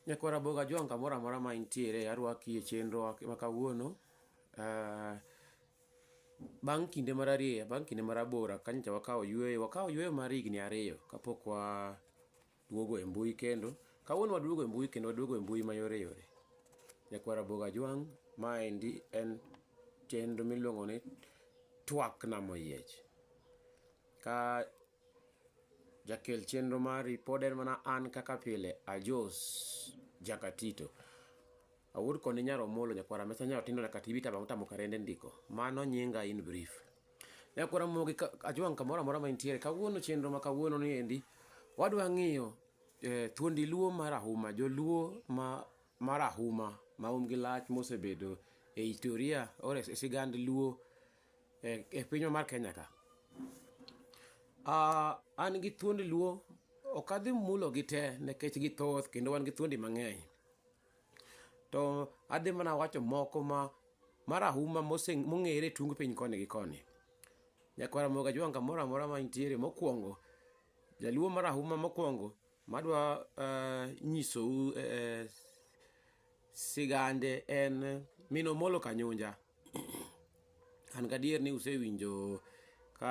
Nyako Raboga Ajwang' kamoro amora ma intiere arwaki e chenro wa ma kawuono. Bang' kinde mararieya, bang' kinde marabora ka nyocha wakawo yueyo, wakawo yueyo mar higni ariyo kapok wa duogo e mbui kendo. Kawuono waduogo e mbui kendo waduogo e mbui ma yore yore. Nyako Raboga Ajwang' ma endi en chenro miluongo ni Twak Nam Oyiech. Ka. Jakel chenro mari pod en mana an kaka pile, Ajos Jakatito. Awuod koni nyar Omolo nyakwar Amesa nyar Otindo nyaka TV taba motamo karende ndiko. Mano nyinga in brief. Nyakwar Ramogi Ajwang' kamoro amora ma intiere, kawuono chenro ma kawuono ni endi, wadwa ng'iyo eh, thuondi luo mar ahuma, joluo ma mar ahuma ma um gi lach mosebedo e historia or e sigand luo e, e pinywa mar Kenya ka. Uh, an gi thuondi luo ok adhi mulo gi te nikech githoth kendo wan gi thuondi mang'eny to adhi mana wacho moko ma marahuma mong'ere tung piny koni gi koni nyakwara moga jwanga moro amora ma nitiere mokwongo jaluo marahuma mokwongo madwa uh, nyisou uh, sigande en minomolo kanyunja An gadier ni usewinjo ka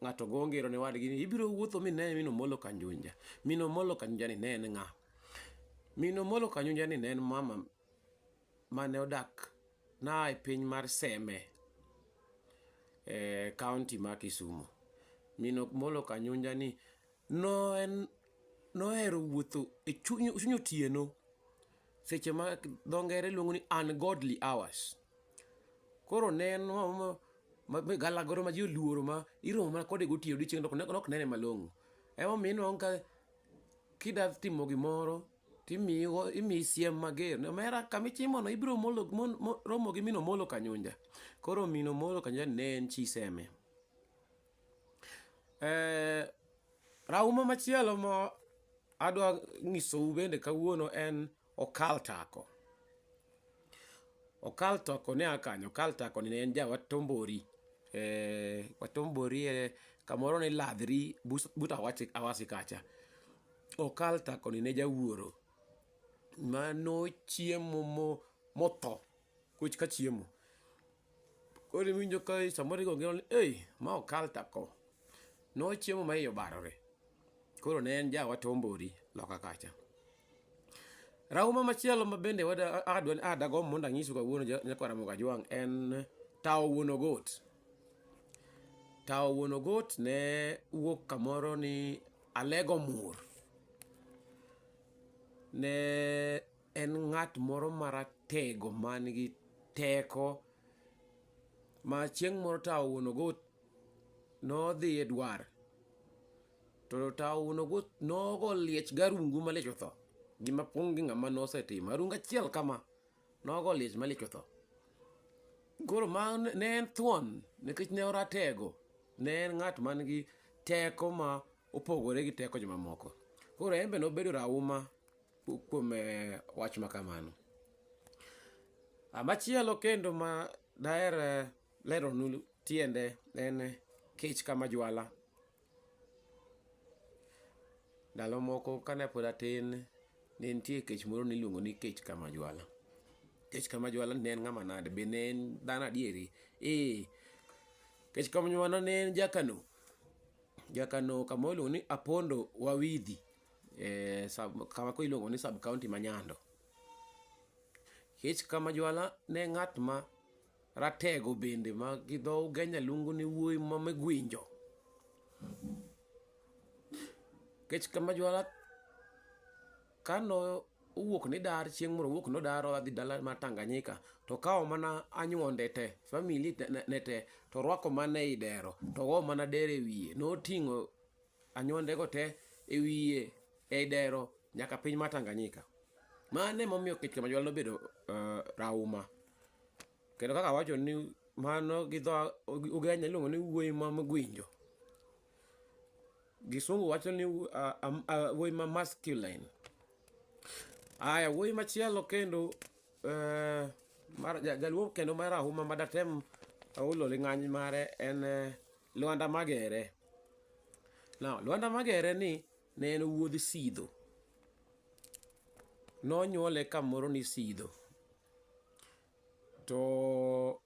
ng'ato go ngero ne wadgi ni ibiro wuotho mi ne mino molo kanjunja. Mino molo kanjunja ni ne en ng'a? Mino molo kanjunja ni ne en mama mane odak na e piny mar Seme e kaunti ma Kisumu. Mino molo kanjunja ni no en nohero wuotho e chuny otieno seche ma dho ngere luongo ni ungodly hours koro neno galagoro ma ji oluoro ma iromo mana kode gotiyo odiochieng' nok nene malong'o emomiyo inwang' ka kida timo gimoro timiyo imiyi siem mager omera kamichimono ibiro romo gi mino molo kanyunja koro mino molo kanyunja ne en chi seme Eh, rauma machielo ma adwa nyisou bende kawuono en okal tako. Okal tako ne a kanye? Okal tako ni ne en ja Watombori. Eh, Watombori eh, kamoro ni Ladhri bus- but Awasi Awasi kacha. Okal tako ni ne jawuoro mano chiemo mo- motho kuch ka chiemo. Koro iwinjo ka samoro igo ngero ni, ei, ma okal tako. Nochiemo ma iye obarore. Koro ne en ja wat Ombori loka kacha. Rauma machielo ma bende wada adwa ni adagombo mondo anyisu kawuono ja- nyakwa Ramogi Ajwang' en Tawo Wuon Ogot. Tawo Wuon Ogot ne wuok kamoro ni Alego Mur. Ne en ng'at moro maratego man gi teko ma chieng' moro tawo wuon ogot nodhi e dwar to tawo wuon ogot nogo liech garungu malich otho gima pong' gi ng'ama nosetimo arungu achiel kama nogo liech malich otho koro ma ne en thuon nikech ne oratego ne en ng'at man gi teko ma opogore gi teko jomamoko koro en be nobedo rauma kuom eh, wach ma kamano. Ah, machielo kendo ma daher eh, leronu tiende en eh, kech kama jwala. Ndalo moko kane pod atin ne nitie kech moro niluongo ni kech kama jwala. Kech kama jwala ne en ng'ama nade? Be ne en dhano adieri? Ee, kech kama jwala ne en jakano. Jakano kama iluongo ni Apondo Wawidhi. eh, sub, kama koro iluongo ni sub county ma Nyando. Kech kama jwala ne ng'at ma ratego bende ma gi dho Ugenya luongo ni wuoyi ma megwinjo. Kech kama jwala kano owuok ni dar chieng' moro owuok nodar odhi dala mar Tanganyika to kawo mana anyuonde te famili te- ne ne te to orwako mana ei dero to ogo mana dero e wiye noting'o Anywandego te e wiye ei dero nyaka piny mar Tanganyika. Mano emomiyo kech Kamajwala nobedo uh, rauma. Kendo kaka wacho ni mano gi dho Ugenya iluongo ni wuoyi ma mgwinjo. Gisungu wacho ni uh, um, uh, wuoyi ma masculine. Aya, wuoyi machielo kendo uh, mar, jaluo kendo mar rauma madatem aulo ling'any mare en uh, Lwanda Magere. Now, Lwanda Magere ni ne en wuodh Sidho. Nonyuole kamoro ni Sidho. To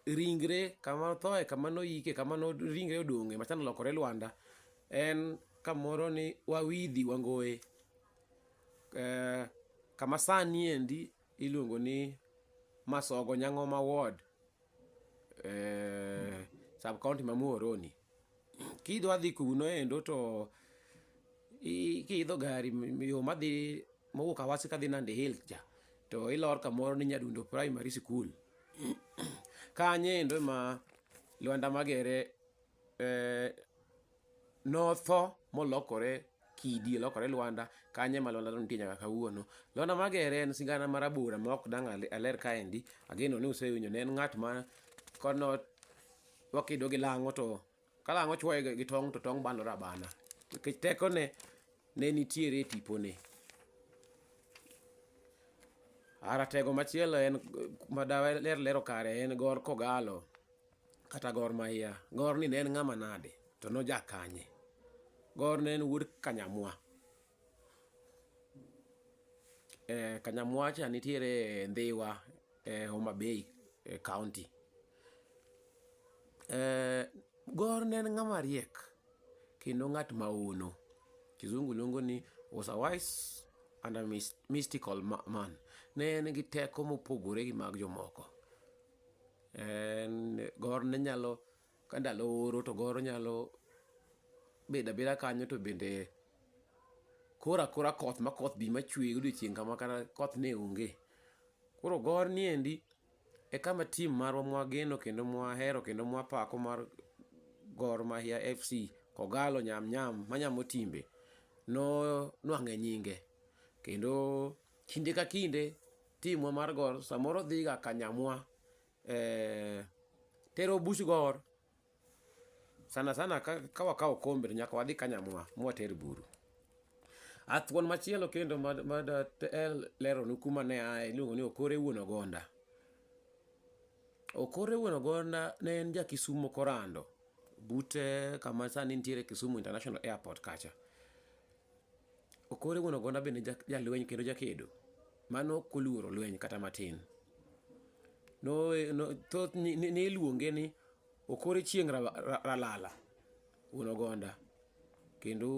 ringre kama othoe kama noyike kama no ringre odong'e machano olokore Lwanda en kamoro ni Wawidhi Wangoye. Eh, kama sani endi iluongo ni Masogo Nyang'oma Ward. eh, sub county ma Muhoroni. Kidwa dhi kuno endo to i- kiidho gari m- yo madhi mowuok Awasi kadhi Nandi Hills cha to ilor kamoro ni Nyadundo Primary School. Kanye endo ma Lwanda Magere eh, Notho molokore kidi, olokore lwanda, kanyo ema lwanda nitie nyaka kawuono. Lwanda Magere en sigana ma rabora ma ok dang' aler kaendi, ageno ni usewinjo ne en ng'at ma kono wakido gi lang'o to ka lang'o chuoye gi tong' to tong' banore abana. Nikech tekone ne nitiere e tipone. Ratego machielo en ma daler lero kare en Gor Kogalo, kata Gor Mahia. Gor ni ne en ng'ama nade to noja kanye? Gor ne en wuod Kanyamwa. Eh, Kanyamwa cha nitiere e Ndhiwa e Homa Bay e county. Eh, Gor ne en ng'ama riek kendo ng'at ma hono. Kizungu luongo ni was a wise and a mys- mystical ma- man. Ne en gi teko mopogore gi mag jomoko. En gor ne nyalo ka ndalo oro to gor nyalo bedo abeda kanyo to bende koro akora koth ma koth bi machwe odiochieng' kama kata koth ne onge. Koro gor ni endi e kama tim marwa mwageno kendo mwahero kendo mwapako mar Gor Mahia FC, K'Ogalo, Nyam Nyam ma Nyamotimbe no nwang'e nyinge. Kendo. Kinde ka kinde timwa mar gor samoro dhiga kanyamwa eh, tero buch gor sana sana ka, ka wakawo kombe to nyaka wadhi kanyamwa mwater buru athuon machielo kendo mad- mad eh, leronu kuma ne aye iluongo ni okore wuon ogonda okore wuon ogonda ne en ja kisumo korando bute kama sani nitiere kisumu international airport kacha Okore wuon Ogonda bende jalweny kendo jakedo mane ok oluoro lweny kata matin. Niluonge ni Okore Chieng' Ralala wuon Ogonda kendo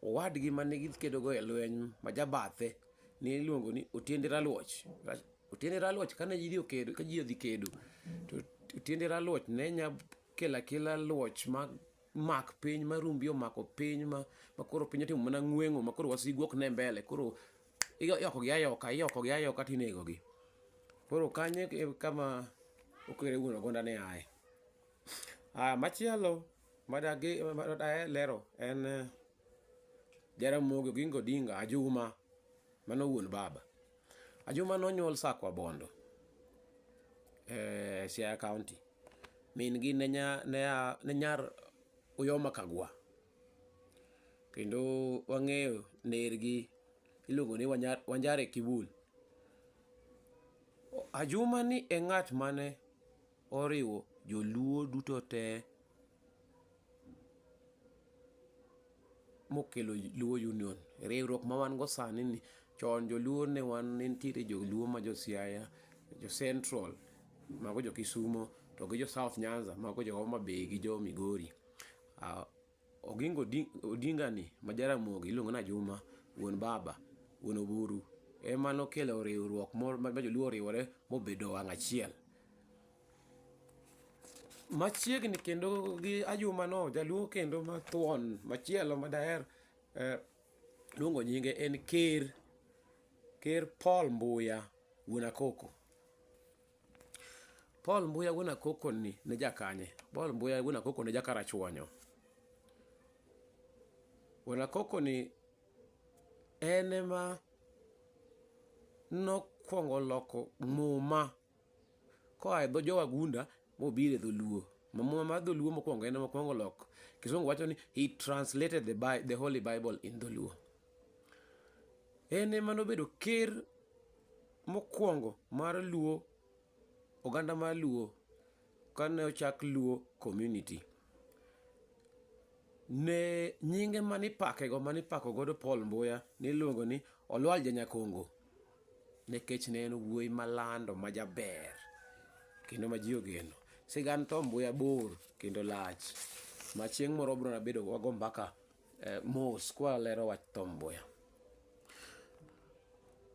owadgi mane gikedogo e lweny ma jabathe niluongo ni Otiende Raluoch. Otiende Raluoch kane ji odhi kedo to Otiende Raluoch ne nya kelo akela luoch ma mak piny ma rumbi omako piny ma makoro piny otimo mana ng'wengo makoro wasigu ok ne mbele koro iyoko gi ayoka iyoko gi ayoka tinego gi koro kanye kama okere wuon ogonda ne aye ah machielo madagi madaye lero en eh, Jaramogi Oginga Odinga Ajuma mano wuon baba Ajuma nonyuol Sakwa Bondo e Siaya County. Min gi ne nyar Uyoma Kagwa. Kendo wang'eyo ner gi iluongo ni Wanjare Kibul. Ajuma ni e ng'at mane Oriwo joluo duto te mokelo Luo Union. Riwruok ma wan go sani ni, chon joluo ne wan ne nitiere joluo ma jo Siaya, jo Central mago jo Kisumo to gi jo South Nyanza mago jo Homa Bay gi jo Migori. Oginga Odinga ni ma Jaramogi iluongo ni Ajuma wuon baba, wuon Oburu ema nokelo riwruok moro ma joluo oriwore mobedo wang' achiel. Machiegni kendo gi Ajuma no jaluo kendo mathuon machielo ma daher luongo nyinge en ker, ker Paul Mbuya wuon Akoko. Paul Mbuya wuon Akoko ni ne jakanye? Paul Mbuya wuon Akoko ne jakarachuonyo. Wuon Akoko ni en ema nokwongo loko muma koa e dho jowagunda mobiro e dholuo Ma muma mar dholuo mokwongo en ema okwongo loko kisungu wacho ni he translated the, Bi- the holy bible in dholuo En ema nobedo ker mokwongo mar Luo, oganda mar Luo kane ochak Luo Community. Ne nyinge manipakego manipako godo Paul Mbuya niluongo ni Olwal Janyakongo nikech ne en wuoyi malando majaber kendo ma ji ogeno. Sigand Tom Mbuya bor kendo lach ma chieng' moro wabiro bedo wago mbaka Eh, mos kwa lero wach Tom Mboya.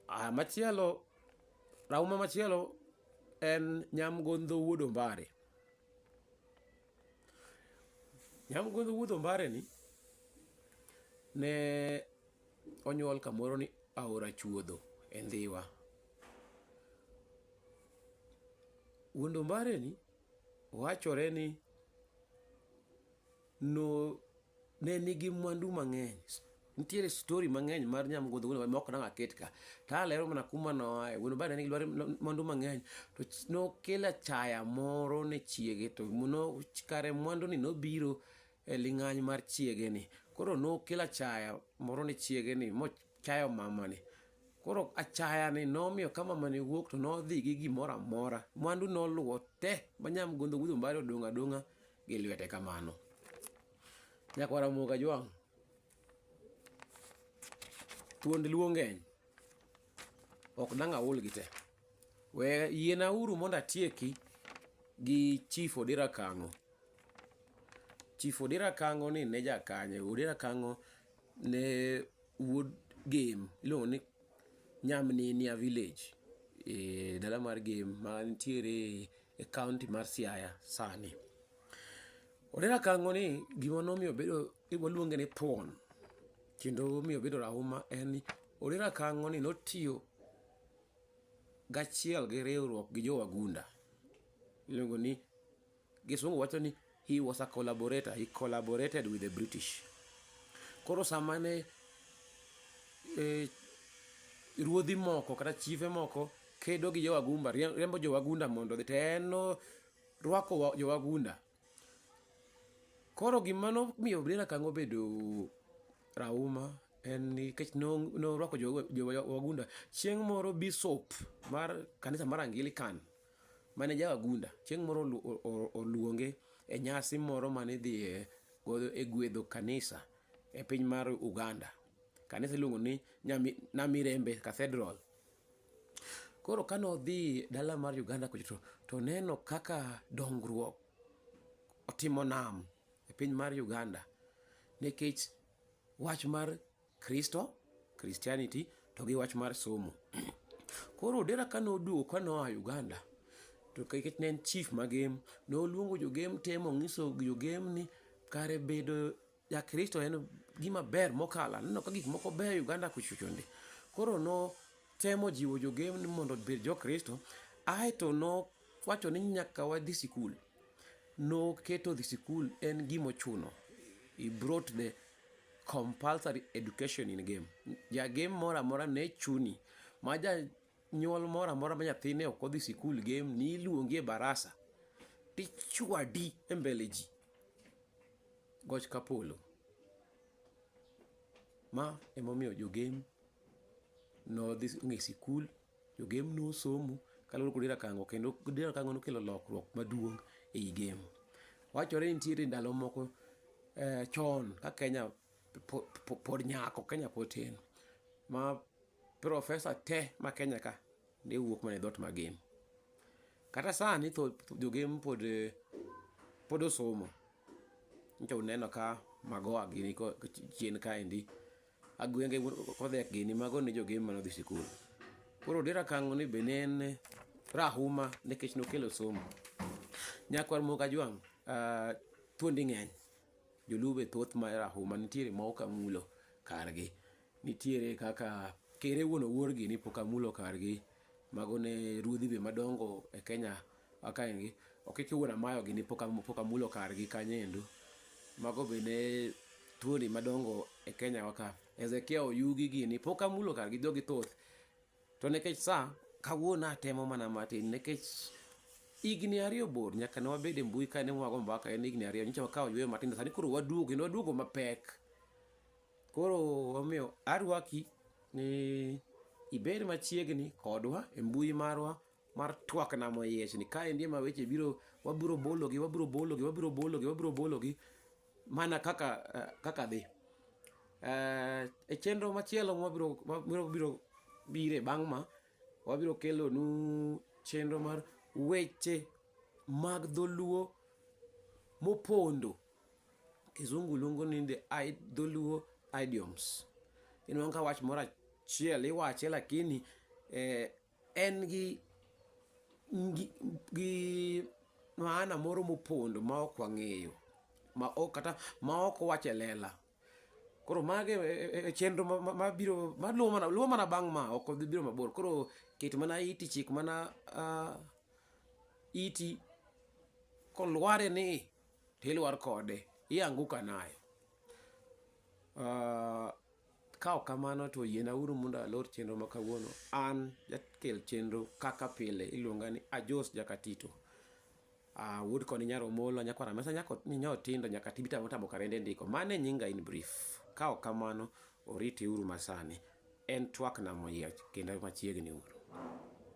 Ah, machielo rauma machielo en Nyamgondho Wuod Ombare. Nyamgondho Wuod Ombare ni ne onyuol kamoro ni Aora Chuodho e Ndhiwa. Wuod Ombare ni wachore ni no ne nigi mwandu mang'eny nitiere story mang'eny mar nyamgodho wuon obare maok nang'a ket ka to alero mana kuma noae wuon obare ne nigi dwaro mwandu mang'eny to ch- nokelo achaya moro ne chiege to no kare mwanduni nobiro e ling'any mar chiegeni koro nokelo achaya moro ne chiegeni mochayo mamani koro achayani nomiyo ka mamani wuok to nodhi gi gimoro amora mwandu noluwo te ma nyamgodho wuon obare odong' adong'a gi lwete kamano. Nyakwar Ramogi Ajwang', thuond luo ng'eny, ok dang' ahulgi te. We yienauru mondo atieki gi Chief Odira Kang'o. Chief Odira Kang'o ni ne jakanye, Odira Kang'o ne wuod Gem, iluongo ni Nyamninia village, e dala mar Gem mantiere e kaunti mar Siaya sani. Odera Kang'o ni gima nomiyo bedo waluonge ni thuon kendo omiyo obedo rahuma en ni Odera Kang'o ni notiyo gachiel gi riwruok gi jowagunda iluongo ni gisungu wacho ni He was a collaborator, he collaborated with the British. Koro sama ne eh, ruodhi moko kata chife moko kedo gi jowagumba riembo jowagunda mondo odhi to en rwako jowagunda koro gima nomiyo Brenda Kango obedo rauma en nikech norwako jowagunda chieng' moro bishop mar kanisa mar Anglican mane jawagunda chieng' moro oluonge e nyasi moro mane idhiye godo e gwedho kanisa e piny mar Uganda. Kanisa iluongo ni Namirembe Cathedral. Koro kane odhi dala mar Uganda kucho to, to neno kaka dongruok otimo nam e piny mar Uganda nikech wach mar Kristo, Christianity, to gi wach mar somo. Koro Odera ka noduogo ka noa Uganda, to kech ne en chief magem, noluongo jogem te mong'iso jogem ni kare bedo ja Kristo en gima ber mokalo. Aneno ka gik moko beyo e Uganda kuchochonde. Koro notemo jiwo jogem ni mondo obed jo Kristo, aeto no Wacho ni nyaka wadhi sikul. Noketo dhi sikul en gima ochuno. He brought the compulsory education in game. Ja game moro amora ne chuni. Ma ja nyuol moro amora ma nyathine ok odhi sikul game ni iluongi e barasa tichwadi e mbele ji. Goch kapolo. Ma emomiyo jo game nodhi ng'e sikul Jogem nosomo kaluwore kod Dirakango kendo Dirakango nokelo lokruok maduong' ei gem. Wachore ni nitiere ndalo moko eh, chon ka Kenya po- po- pod nyako, Kenya pod tin, ma profesa te ma Kenya ka ne wuok mana e dhot ma gem. Kata sani tho tho- jogem pod eh, pod osomo nyicha uneno ka magoa gini ko- chien kaendi Agwenge kodhek gini mago ne jogem mane odhi sikul. Koro Odera Kang'o ni be ne en rahuma nikech nokelo somo. Nyakwar Muoga Jwang' ah, thuondi ng'eny. Joluo be thoth ma rahuma nitiere ma ok amulo kargi. Nitiere kaka kere wuon owuorgi ni pok amulo kargi. Mago ne ruodhi be madongo e Kenya Akaengi okike wuon amayo gini pok amulo kargi kanyo endo. Mago be ne tuoni madongo e Kenya wa ka. Ezekia Oyugi gini pok amulo kargi jogi thoth. To nekech sa kawuono atemo mana matin nekech higni ariyo bor nyaka ne wabed e mbui ka ne wago mbaka en higni ariyo nyicha wakawo yweyo matindo sani koro waduogo kendo waduogo mapek. Koro omiyo arwaki ni ibed machiegni kodwa e mbui marwa mar twak nam oyiech ni ka endi ema weche biro wabiro bologi wabiro bologi wabiro bologi wabiro bologi mana kaka eh, kaka dhi eh, e chenro machielo mabiro mabiro biro bire bang' ma wabiro kelo nu chenro mar weche mag dholuo mopondo kizungu luongo ni the dholuo idioms inwanka wach moro achiel iwache lakini eh, en gi gi maana moro mopondo ma ok wang'eyo ma ok kata ma ok wach e lela koro mage e, e, e chenro mabiro maluwo mana luwo mana bang' ma ok dhi biro mabor koro ket mana iti chik mana uh, iti kolware ni tilwar kode ianguka nayo uh, Ka ok kamano to yienawuru mondo alor chenro ma kawuono. An jakel chenro kaka pile iluonga ni Ajos Jakatito. Ah, wuod koni nyar Omolo, nyakwara mesa nyako nyinyo tindo nyaka tibi tamo tamo karende ndiko. Mano e nyinga in brief. Ka ok kamano, oritiuru masani. En twakna moyiech kendo machiegni uru.